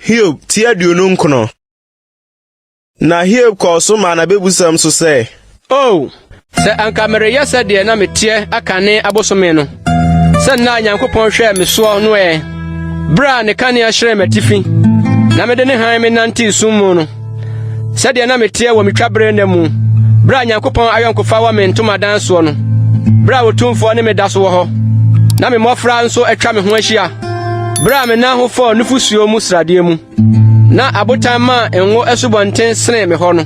Hiob ti aduonu nkono. Na Hiob kɔɔ so maa n'abebusɛm so sɛ. O, oh, sɛ anka mereyɛ sɛdeɛ na meteɛ akane abosome no, sɛ nna a Nyankopɔn hwɛɛ me soɔ no ɛ, berɛ a ne kanea hyerɛn m'atifi, na mede ne hann menantee sum mu no. Sɛdeɛ na meteɛ wɔ metwa berɛ nna mu, berɛ a Nyankopɔn ayɔnkofa wɔ me ntomadan soɔ no, berɛ a Otumfoɔ ne me da so wɔ hɔ, na me mmɔfra nso atwa me ho ahyia, berɛ a me nan ho fɔɔ nufosuo mu sradeɛ mu, na abotan maa ngo asubɔnten senee me hɔ no.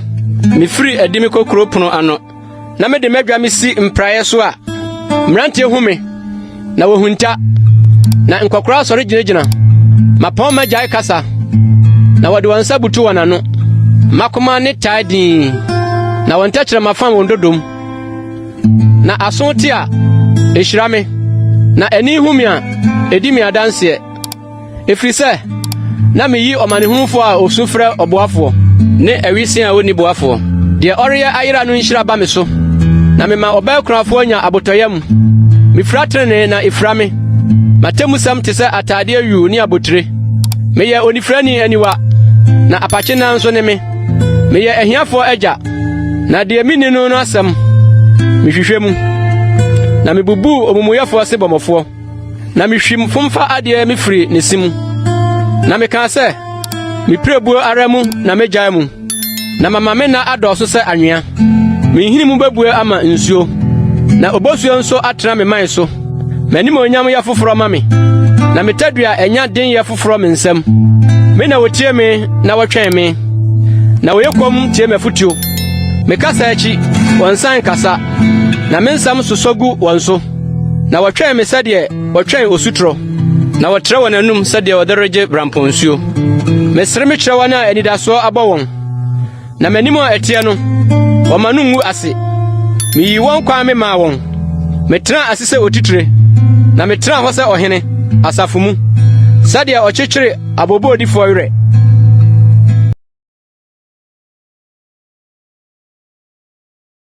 Mefiri adi mekɔ kuro pono ano. na mede m'adwa me si mpraeɛ so a, mmeranteɛ hu me, na wɔhunta, na nkɔkoraa sɔre gyinagyina. Mapɔn m'agyae kasa, na wɔde wɔn nsa butu wɔn ano. Makoma ne tae dinn, na wɔn tɛkyerɛma fam wɔn dodom. Na aso te a, ɛhyira me, na ani hu me a, ɛdi me adanseɛ. Ɛfiri sɛ, na meyi ɔmanehunufoɔ a ɔsu frɛ ɔboafoɔ. Ne awisee a ɔnni boafoɔ. Deɛ ɔreyɛ ayera no nhyira ba me so. Na mema ɔbaa kunafoɔ nya abotɔyam. Mefira tenenee, na ɛfira me. M'atemmusɛm te sɛ ataadeɛ yuu ne abotire. Meyɛ onifirani aniwa, na apakyenaa nso ne me. Meyɛ ahiafoɔ agya, na deɛ menni no no asɛm, mehwehwɛ mu. Na mebubuu omumuyɛfoɔ sebɔmɔfoɔ. na mihwim fomfa adeɛ me firi ne se mu na mekaa sɛ mepirebuo ara mu na megyae mu na mama me nna adɔɔso sɛ anwea menhini mu bɛbue ama nsuo na obosuo nso atena me man so m'animuonyam yɛ foforɔ ma me na me tadua ɛnya den yɛ foforɔ me nsam me na wɔtie me na wɔtwɛn me na wɔyɛ kɔm tie m'afotuo mekasa akyi wɔn nsa nkasa na me nsɛm sosɔ gu wɔn so Na wɔtwɛn me sɛdeɛ wɔtwɛn osutorɔ, na wɔtrɛ wɔn anum sɛdeɛ wɔde regye brampɔ nsuo. Mesere me kyerɛ wɔn a anidasoɔ abɔ wɔn, na m'anim a ɛteɛ no, wɔma no ngu ase. Meyii wɔn kwan me maa wɔn, metenaa ase sɛ otitire, na metenaa hɔ sɛ ɔhene asafo mu, sɛdeɛ ɔkyekyere aboɔboɔdifoɔ werɛ.